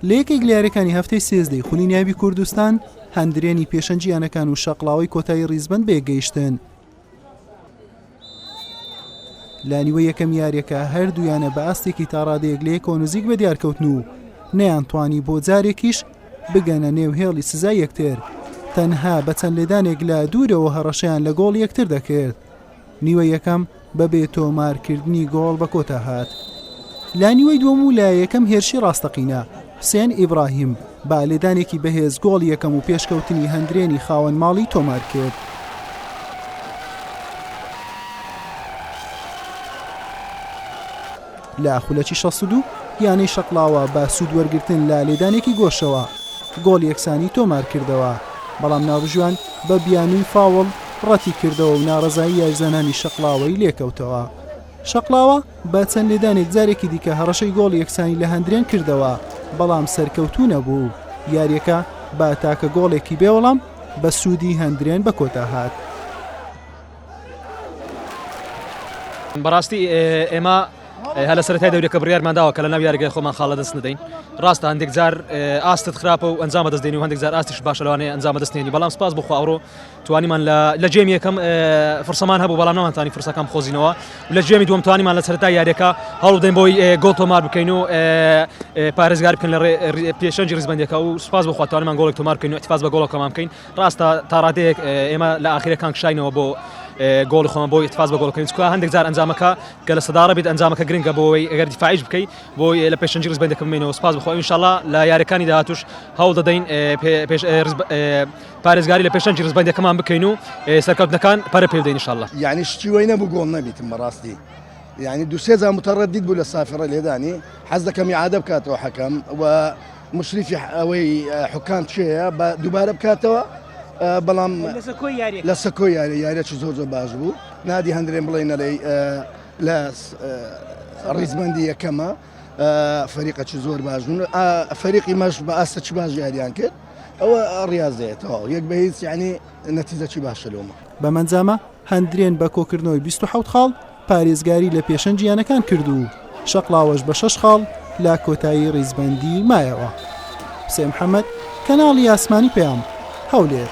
لە یەکێک لە یاریەکانی هەفتەی سێزدەی خونی نیابی کوردستان هەندرێنی پێشەنجی یانەکان و شەقلاوی کۆتایی ریزبند بێگەیشتن لانیوە یەکەم یاریەکە هەردوویانە بە ئاستێکی تاڕادەیەک لە یەکەوە نزیک بە دیارکەوتن و نەیانتوانی بۆ جارێکیش بگەنە نێو هێڵی سزا یەکتر تەنها بە چەند لێدانێک لە دوورەوە هەڕەشیان لە گۆڵ یەکتر دەکرد نیوە یەکەم بە بێ تۆمار کردنی گۆڵ بە کۆتا هات. لە نیوەی دووەم و لە یەکەم هێرشی ڕاستەقینە، حوسێن ئیبراهیم بە لێدانێکی بەهێز گۆڵی یەکەم و پێشکەوتنی هەندرێنی خاوەن ماڵی تۆمار کرد. لە خولەکی شەست و دوو یانەی شەقڵاوە بە سوود وەرگرتن لە لێدانێکی گۆشەوە گۆڵ یەکسانی تۆمار کردەوە، بەڵام ناوبژیوان بە بیانووی فاوڵ ڕەتی کردەوە و ناڕەزایی یاریزانانی شەقڵاوەی لێکەوتەوە. شەقڵاوە بە چەند لێدانێک جارێکی دیکە هەڕەشەی گۆڵ یەکسانی لە هەندرێن کردەوە، بەڵام سەرکەوتوو نەبوو و یارییەکە بە تاکە گۆڵێکی بێ وەڵام بە سوودی هەندرێن بە کۆتا هات. بەڕاستی ئێمە هەلە سەرای دەورەکە بڕیارمانداوە کە لە ناو یاریگەی خۆمان خاڵە دەست ندەین ڕاستە هەندێک جار ئاستت خراپە و ئەنجامە دەست دێنی و هەندێک جار ئاستیش باشەوانێ ئەنجامە دەستێنی بەڵام سپاس بخواڕۆ توانیمان لە جێم یەکەم فرسەمان هەبوو بەڵام نەوانتانی فرسەکەم خۆزینەوە لە جێمی دوم توانیمان لە سەرتا یاریەکە هەڵدەین بۆی گۆڵ تۆمار بکەین و پارێزگار بکەن لە پێشەنجی ریزبندەکە و سپاس بخواتوانمان گۆڵێک تۆمار بکەین و تفاز بە گۆڵەکەمان بکەین ڕاستە تا ڕادەیەک ئێمە لە ئاخیرەکان کشاینەوە بۆ گۆڵی خۆمان بۆی اتفاز بە گۆڵکردن چکە هەندێک جار ئەنجامەکە گە لە سەداڕە بێت ئەنجامەکە گرنگە بۆەوەی ئەگەر دیفاعش بکەیت بۆ لە پێشنجی ڕز بەندەکە بمێنەوە سپاس بخۆ انشاءله لە یارەکانی داهاتوش هەوڵ دەدەین پارێزگاری لە پێشنجی ڕزبندەکەمان بکەین و سەرکەوتنەکان پەرە پێدەین انشاءله یعنی شتی وای نەبوو گۆڵ نەبیتم بەڕاستی یعنی دوسێزان متەڕەدید بوو لە سافرە لێدانی حەز دەکەم یعادە بکاتەوە حەکەم و مشریفی ئەوەی حکام چێە بە دووبارە بکاتەوە بەڵام لە سەکۆ یاری یاریێکی زۆر زۆر باش بوو نادی هەندرێن بڵێ نەرەی لە ڕیزمەندی یەکەمە فەریقەکی زۆر باش بوون فەریقی مەش بە ئاستە چ باش یاریان کرد ئەوە ڕاستێتەوە یەک بە هیچ ینی نەتیزەکی باشە لۆمە بەمەنجامە هەندرێن بە کۆکردنەوەی بیست و حەوت خاڵ پارێزگاری لە پێشەنگی یانەکان کرد و شەقڵاوەش بە شەش خاڵ لە کۆتایی ریزبەندی مایەوە. حوسێن محەمەد، کەناڵی ئاسمانی پەیام، هەولێر.